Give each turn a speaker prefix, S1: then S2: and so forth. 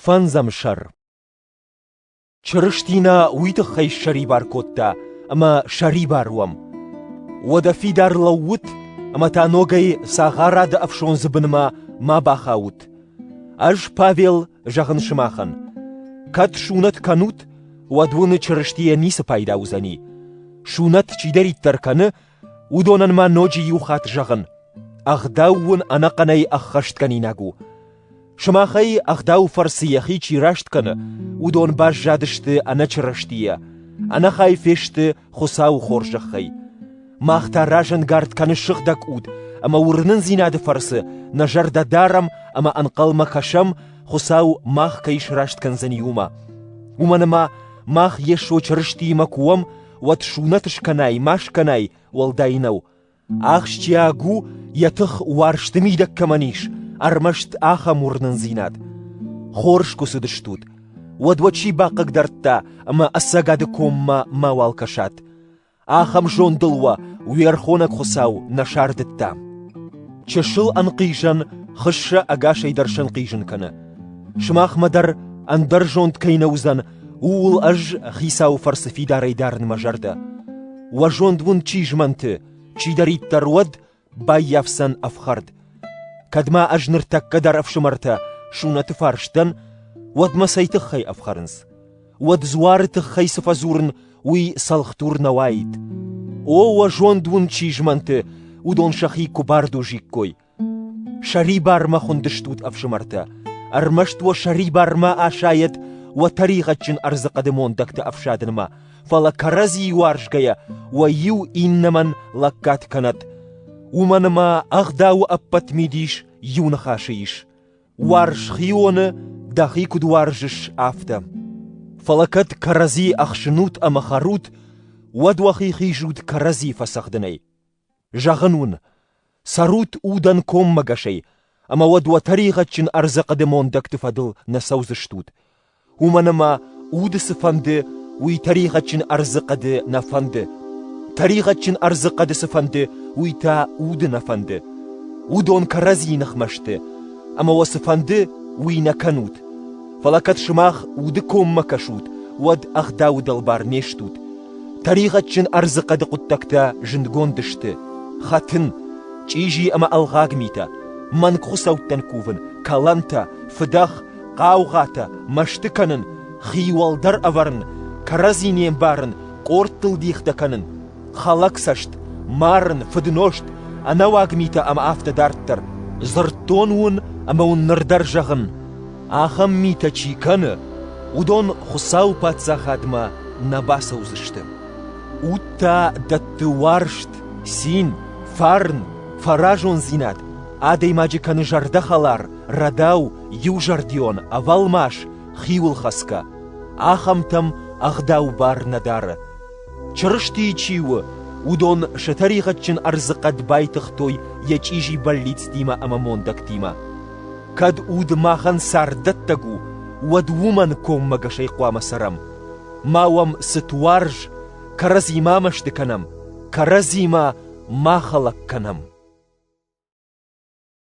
S1: Фӕндзӕм сӕр Чырыстина уый тыххӕй ссӕрибар кодта, ӕмӕ сӕрибар уӕм. Уӕдӕ фидар лӕуут ӕмӕ та ногӕй цагъарады ӕфсондзы бынмӕ ма бахаут. Ӕз, Павел, зӕгъын сымахӕн, кӕд сунӕт кӕнут, уӕд уыны Чырыстийӕ ницы пайда уыдзӕни. Сунӕт чидӕриддӕр кӕны, Уыдонӕн ма ноджы иу хатт зӕгъын: ӕгъдау уын ӕнӕхъӕнӕй ӕххӕстгӕнинаг у. Сымахӕй ӕгъдауы фӕрцы йӕхи чи раст кӕны, уыдон баззадысты ӕнӕчырыстийӕ, ӕнӕхай фесты Хуыцауы хорзӕхӕй. Мах та разӕнгард кӕны сыгъдӕг уд ӕмӕ уырнындзинады фӕрцы нӕ зӕрдӕ дарӕм ӕмӕ ӕнхъӕлмӕ кӕсӕм, Хуыцау мах кӕй сраст кӕндзӕни уымӕ. Уымӕн ӕмӕ мах Йесо Чырыстиимӕ куы уӕм, уӕд сунӕт скӕнай ма скӕнай, уӕлдай нӕу. Ахсджиаг у, йӕ тых уарзты мидӕг кӕмӕн ис, ӕрмӕст ахӕм уырнындзинад. Хорз куы цыдыстут, уӕд уӕ чи бахъыгдардта ӕмӕ ӕцӕгады коммӕ мауал кӕсат. Ахӕм зондыл уӕ уе рхонӕг Хуыцау нӕ сардыдта. Чысыл ӕнхъизӕн хыссӕ ӕгасӕй дӕр сӕнхъизын кӕны. Сымахмӕ дӕр ӕндӕр зонд кӕй нӕ уыдзӕн, Ууыл ӕз Хицауы фӕрцы фидарӕй дарын мӕ зӕрдӕ. Уӕ зонд уын чи змӕнты, чидӕриддӕр уӕд, баййафдзӕн ӕфхӕрд. Кӕд ма ӕз ныртӕккӕ дӕр ӕфсымӕртӕ Сунӕты фарс дӕн, уӕд мӕ цӕй тыххӕй ӕфхӕрынц? Уӕд дзуары тыххӕй цы фӕдзурын, уый цӕлхдур нӕ уаид. О, уӕ зонд уын чи змӕнты, уыдон сӕхи куы бардозиккой, Сӕрибармӕ хуындыстут, ӕфсымӕртӕ, ӕрмӕст уӕ сӕрибармӕ асайӕт уӕ тӕригъӕдджын ӕрдзы хъӕды мондӕгты ӕфсадынмӕ, фӕлӕ кӕрӕдзийы уарзгӕйӕ уӕ иу иннӕмӕн лӕггад кӕнӕт. Уымӕн ӕмӕ ӕгъдауы ӕппӕт мидис иу ныхасы ис: уарз хионы, дӕхи куыд уарзыс, афтӕ. Фӕлӕ кӕд кӕрӕдзи ӕхсынут ӕмӕ хӕрут, уӕд уӕхи хизут кӕрӕдзи фӕцӕгъдынӕй. Зӕгъын уын, цӕрут удӕн коммӕгӕсӕй, ӕмӕ уӕд уӕ тӕригъӕдджын ӕрдзы хъӕды мондӕгты фӕдыл нӕ цӕудзыстут, уымӕн ӕмӕ уды цы фӕнды, уый тӕригъӕдджын ӕрдзы хъӕды нӕ фӕнды. Тӕригъӕдджын ӕрдзы хъӕды цы фӕнды, уый та уды нӕ фӕнды. Уыдон кӕрӕдзийы ныхмӕ сты, ӕмӕ уӕ цы фӕнды, уый нӕ кӕнут. Фӕлӕ кӕд сымах уды коммӕ кӕсут, уӕд ӕгъдауы дӕлбар не стут. Тӕригъӕдджын ӕрдзы хъӕды хъуыддӕгтӕ зындгонд сты: хӕтын, чъизи ӕмӕ ӕлгъаг митӕ, мӕнг хуыцӕуттӕн кувын, кӕлӕнтӕ, фыдӕх, хъаугъатӕ, мӕсты кӕнын, хи уӕлдӕр ӕвӕрын, кӕрӕдзи не мбарын, къордтыл дихтӕ кӕнын, хӕлӕг цӕст, марын, фыднозт, ӕнӕуаг митӕ ӕмӕ афтӕ дарддӕр. Дзырдтон уын ӕмӕ уын ныр дӕр зӕгъын: Ахӕм митӕ чи кӕны, уыдон Хуыцауы Паддзахадмӕ нӕ бацӕудзысты. Уд та дӕтты уарзт, цин, фарн, фӕразондзинад, адӕймаджы кӕны зӕрдӕхӕлар, рӕдау, иузӕрдион, ӕвӕлмас, хиуылхӕцгӕ. Ахӕмтӕм ӕгъдау бар нӕ дары. Чырыстийы чи у, уыдон сӕ тӕригъӕдджын ӕрдзы хъӕд байтыгътой йӕ чъизи бӕллицтимӕ ӕмӕ мондӕгтимӕ. Кӕд уд махӕн царддӕттӕг у, уӕд уымӕн коммӕгӕсӕй хъуамӕ цӕрӕм. Ма уӕм цыт уарз, кӕрӕдзимӕ мӕсты кӕнӕм, кӕрӕдзимӕ ма хӕлӕг кӕнӕм.